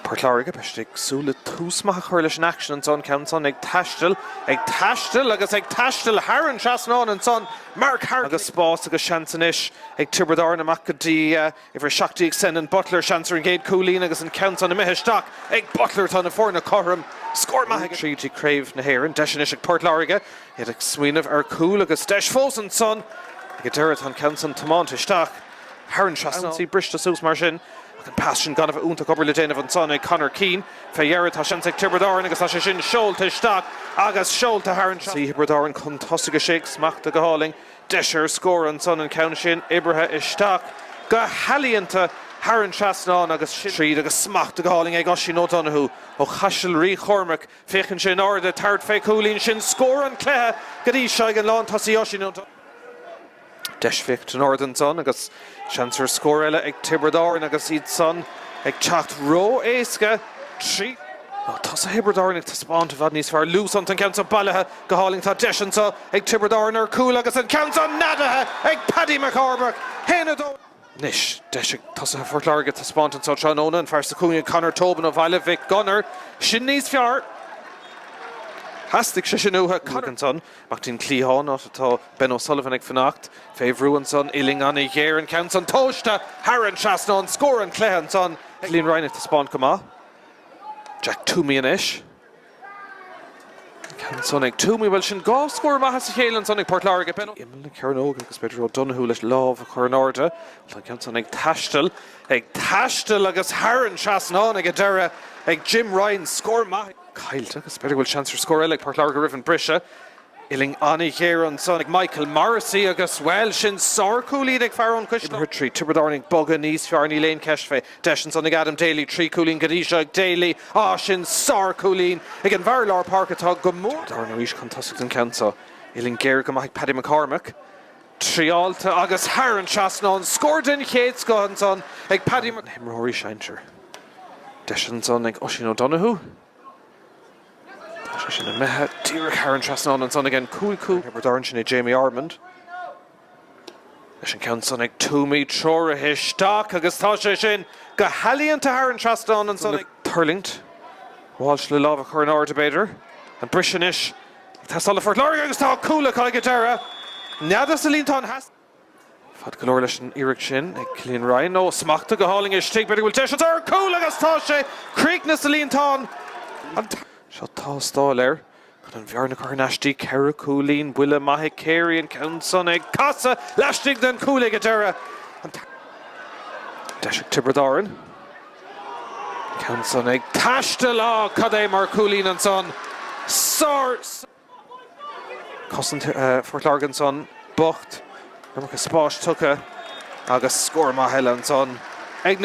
Port Láirge, beidh siad ag súil le tús maith a chur leis an aicsean ansan. Ceann ansan ag taisteal, ag taisteal agus ag taisteal thar an trasnán ansan, Mark Harte agus spás agus seans anois ag Tiobraid Árann amach go dtí uimhir 17 Senan Butler, seans ar an gcéad cúilín agus an ceann san imithe isteach ag Butler. Tá na foirne cothrom, scór maith ag tríd i Craobh na hÉireann. Deis anois ag Port Láirge, iad ag smaoineamh ar chúl agus deis fós ansan. Ag an deireadh tá an ceann san tiomáinte isteach. thar an trasnán. Ionsaí briste suas mar sin ach an pas sin gan a bheith iontach obair le déanamh ansan ag Conor Keane. Fé dheireadh tá seans ag Tiobraid Árann agus tá sé sin seolta isteach agus seolta thar an trasnán. Tiobraid Árann chun tosaigh 6 ag smachta go hálainn. Deis ar scór ansan an ceann sin oibrithe isteach go healaíonta thar an trasnán agus sin tríd agus smachta go hálainn ag Oisín O'Donoghue ó Chaiseal Rí Chormaic. Féachann sé in airde ag tabhairt fé chúilín sin scór an chluiche go dtí seo ag an lántosaí Oisín Ó. Deis bheag an-ard ansan agus seans ar scór eile ag Tiobraid Árann agus iad san ag teacht ró-éasca trí tosaithe Thiobraid Árann ag taispeáint i bhfad níos fearr. Luas iontu, an ceann seo bailithe go hálainn ach tá deis anso ag Tiobraid Árann ar chúl agus an ceann seo neadaithe ag Paddy McCormack. 1-2. Anois, deis ag tosaithe Phort Láirge taispeáint anso tráthnóna, an fear sa chúinne Conor Tobin ó Bhaile Mhic Gonair sin níos fearr. Theastaigh sé sin uathu. An ceann san amach go dtí an cliathán áit atá Ben O'Sullivan ag fanacht. Fé bhrú ansan uillinn an-ghéar an ceann san tomhaiste thar an trasnán. Scór an chluiche ansan. Cillian Ryan ag taispeáint go maith. Jack Twomey anois. Ceann san ag Twomey, bhuel sin dhá scór maith as a chéile ansan ag Port Láirge, Ben. Imeall na cearnóige agus b'fhéidir O'Donoghue leis lámh a chur in airde. Tá an ceann san ag taisteal, ag taisteal agus thar an trasnán ag an deireadh ag Jim Ryan, scór maith caillte agus b'fhéidir go bhfuil seans ar scór eile ag Port Láirge roimh an briseadh. Uillinn an-ghéar ansan ag Michael Morrissey agus, bhuel, sin sárchúilín ag fear ón Chuisleo. Imir trí Tiobraid Árann ag bogadh níos fearr, níl aon cheist fé. Deis ansan ag Adam Daly, trí chúilín go dtí seo ag Daly. Á, sin sárchúilín ag an bhfear lár páirce atá go mór. Tiobraid Árann arís chun tosaigh an ceann seo. Uillinn géar go maith ag Paddy McCormack. Triailte agus thar an trasnán. Scór den chéad scoth ansan ag Paddy. Ar na himreoirí sinsear. Deis ansan ag Oisín O'Donoghue. Tá sé sin imithe díreach thar an trasnán ansan ag an cúl cú. Thiobraid Árann sin é Jamie Ormond leis an ceann san ag Twomey treoraithe isteach agus tá sé sin go healaíonta thar an trasnán ansan ag. Tuirlingt. Walsh le lámh a chur in airde b'fhéidir. An briseadh anois ag teastáil ó Phort Láirge agus tá cúl acu ag deireadh. Neadaithe sa líontán theas. Fad go leor leis an iarracht sin ag Cillian Ryan. Ó, smachtaithe go hálainn istigh. B'fhéidir go bhfuil deis ann. Cúl agus tá sé críochnaithe sa líontán. Seo tástáil air. Chun an bhearna a chur anois go dtí. Ceithre chúilín. Buille maith ag Carey. An ceann san ag casadh laistigh den chúl ag an deireadh. Deis ag Tiobraid Árann. An ceann san ag taisteal. Á, cad é mar chúilín ansan. Sár. Cosaint Phort Láirge ansan bocht, iomarca spáis tugtha agus scór maith eile ansan ag na.